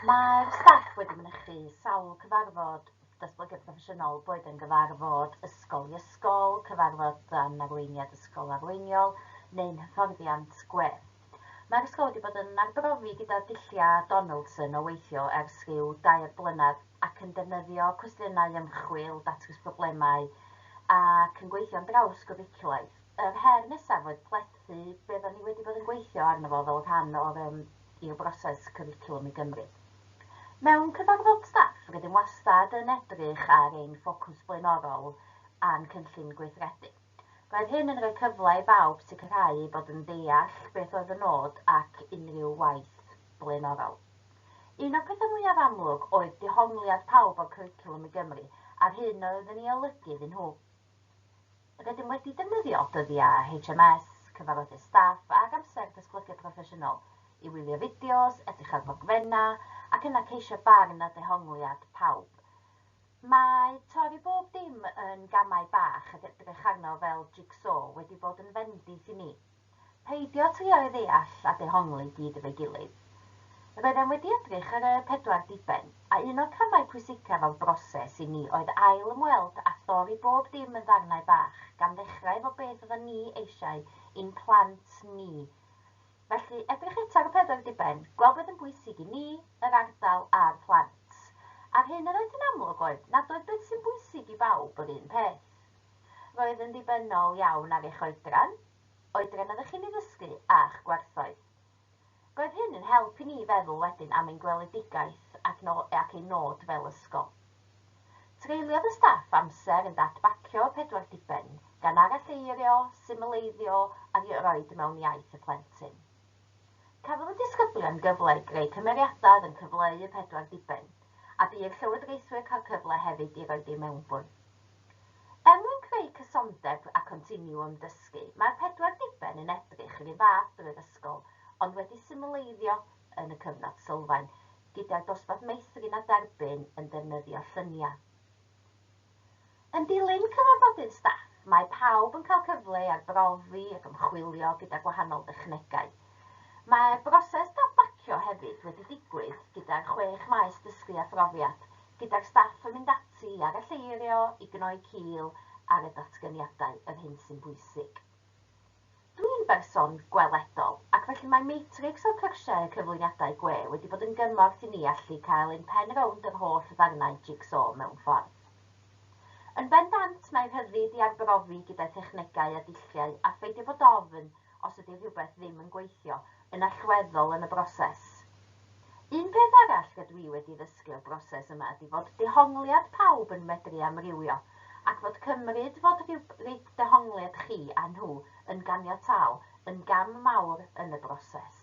Mae'r staff wedi mynychu sawl cyfarfod datblygiad proffesiynol, boed yn gyfarfod ysgol i ysgol, cyfarfod dan arweiniad ysgol arweiniol neu'n hyfforddiant gwerth. Mae'r ysgol wedi bod yn arbrofi gyda dulliau Donaldson o weithio ers rhyw dair blynedd ac yn defnyddio cwestiynau ymchwil, datrys problemau ac yn gweithio'n drawsgwricwlaidd. Yr her nesaf oedd plethu beth o'n i wedi bod yn gweithio arno fo fel rhan o'r i'w broses cwricwlwm i Gymru. Mewn cyfarfod staff, rydym wastad yn edrych ar ein ffocws blaenorol a'n cynllun gweithredu. Roedd hyn yn rhoi cyfle i bawb sicrhau eu bod yn deall beth oedd y nod ac unrhyw waith blaenorol. Un o'r pethau mwyaf amlwg oedd dehongliad pawb o'r cwricwlwm i Gymru a'r hyn oedd yn ei olygu iddyn nhw. Rydym wedi defnyddio dyddiau HMS, cyfarfodydd staff ac amser datblygu proffesiynol i wylio fideos, edrych ar ddogfennau ac yna ceisio barn a dehongliad pawb. Mae torri bob dim yn gamau bach ac edrych arno fel jig-so wedi bod yn fendith i ni. Peidio trio'i ddeall a dehongli i gyd efo'i gilydd. Roeddem wedi edrych ar y pedwar diben, a un o'r camau pwysicaf o'r broses i ni oedd ail ymweld a thorri bob dim yn ddarnau bach, gan ddechrau efo beth oeddan ni eisiau i'n plant ni. Felly, edrych eto ar y pedwar diben, gweld beth yn bwysig i ni, yr ardal a'r plant. A'r hyn yr oedd hi'n amlwg oedd nad oedd beth sy'n bwysig i bawb yr un peth. Roedd yn ddibynnol iawn ar eich oedran, oedran oeddech chi'n ei ddysgu, a'ch gwerthoedd. Roedd hyn yn help i ni feddwl wedyn am ein gweledigaeth ac ein nod fel ysgol. Treuliodd y staff amser yn dadbacio y pedwar diben, gan aralleirio, symleiddio a rhoid mewn iaith y plentyn. Cafodd y disgyblion gyfle i greu cymeriadau oedd yn cyfleu y pedwar diben, a bu i'r llywodraethwyr cael cyfle hefyd i roid eu mewnbwn. Er mwyn creu cysondeb a continiwwm dysgu, mae'r pedwar diben yn edrych yr un fath drwy'r ysgol, ond wedi symleiddio yn y cyfnod sylfaen, gyda'r dosbarth meithrin a derbyn yn defnyddio lluniau. Yn dilyn cyfarfodydd staff, mae pawb yn cael cyfle i arbrofi ac ymchwilio gyda gwahanol dechnegau. Mae broses dadbacio hefyd wedi digwydd gyda'r chwech maes dysgu a phrofiad, gyda'r staff yn mynd ati i aralleirio, i gnoi cil ar y datganiadau, yr hyn sy'n bwysig. Dw i'n berson gweledol, ac felly mae matrics o'r cyrsiau a cyflwyniadau gwe wedi bod yn gymorth i ni allu cael ein pen rownd yr holl ddarnau jig-so mewn ffordd. Yn bendant, mae rhyddid i arbrofi gyda thechnegau a dulliau a pheidio bod ofn os ydy rhywbeth ddim yn gweithio yn allweddol yn y broses. Un peth arall rydw i wedi ddysgu o'r broses yma ydi fod dehongliad pawb yn medru amrywio ac fod cymryd fod rhywbryd dehongliad chi a nhw yn ganiataol yn gam mawr yn y broses.